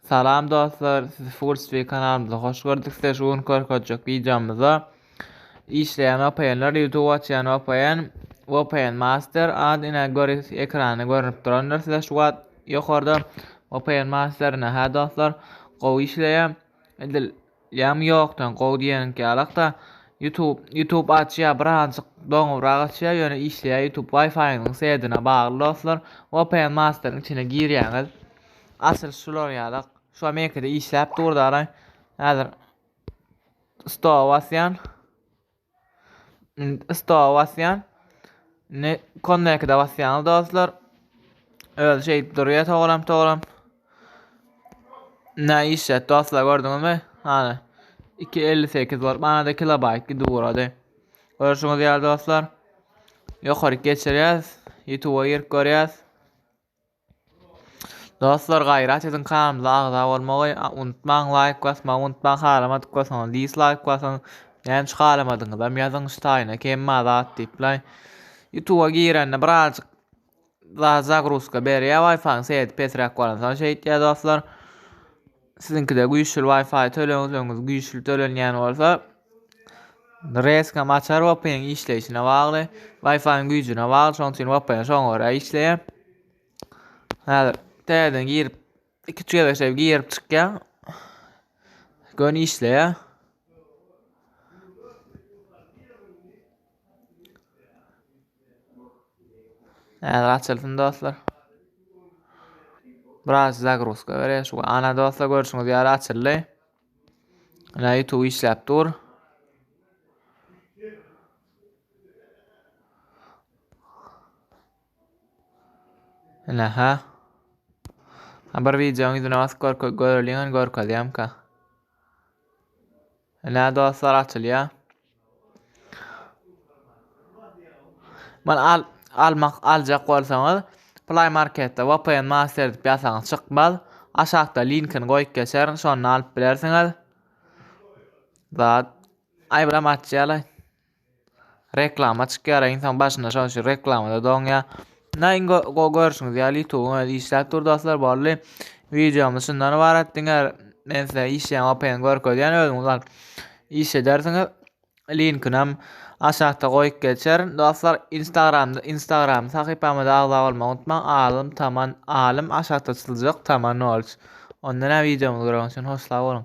Salam dostlar, sizi Fullspeed kanalymyza hoş gördük. Size şu gün görkezjek videomyzda işleýän VPN-ler, YouTube açýan VPN, VPN Master adyna göre ekranda görünip durandyr. Size şu wagt ýokarda VPN Master-ne ha dostlar, gowy işleýär. Edil Ýam ýokdan gowy diýeniňki ýalakda YouTube YouTube açýa bir azjyk doňubrak açýa ýöne işleýä YouTube wifiňiziň sedine bagly dostlar vpn masteryň içine girýäňiz açylyş şular ýalak şu amerikada işläp dur daraý häzir stowa basýan Indi stowa basýan. Indi connect-e basýan dostlar. Özi şeýdip durýar togram togram. Ne işlet dostlar gördüňizmi? Hany 258 bolup manada kilobayt gidip ugrady. Görüşüňiz ýaly dostlar. Ýokaryk geçirýäs. YouTube-a girip görýäs. Dostlar gaýrat ediň kanalymyza agza bolmagy unutmaň laýk basmagy unutmaň halamadyk bolsaňyz dislaýk basyň näme üçin halamadygyňyzam ýazyň şu taýyna kemma zat diýip laý ýutuba girende birazjyk zat zagruzka berýär waýfaň sesi pesräk bolansoň şeýtýär dostlar. Siziňkide güýçli Wi-Fi töleňizleňiz güýçli tölenýän bolsa, reýskam açar VPN işleýşine bagly, Wi-Fi-iň güýjüne bagly, şonuň üçin VPN şoňa görä işleýär. Häzir täzeden girip, iki-üç gezekçe girip çykýan. Göni işleýär. Häzir açylsyn dostlar. Biraz zagruzka berer şu. Ana dostlar görüşüňiz ýaly açyldy. Ana YouTube işläp dur. Ana ha. Bir videoň ýüzüne basyp görke göreliň görkezýärmka. Nä dostlar açylýa. Men al almak aljak bolsaňyz Play Marketde VPN Master edip ýasaňyz çykmaz. Aşakda linkini goýup geçerin şonda alyp bilersiňiz. Zat. Ay biram açýalay. Reklama çykýar, insan başyna şonuň üçin reklamada doňýar. Näme iň go- go- görşüňiz ýaly YouTube özi işläp dur dostlar boldy. Wideomyz şundan ybarat diňe men size işleýän OPN görkezýän özüňiz bak. Iş edersiňiz. Linkini hem aşakda goýup geçerin. Dostlar Instagramda Instagram sahypamyza agza bolmagy unutmaň. Alym Taman Alym aşakda çyzyljak Taman Knowledge. Onda näme wideomyzy göreňiz üçin hoş sag boluň.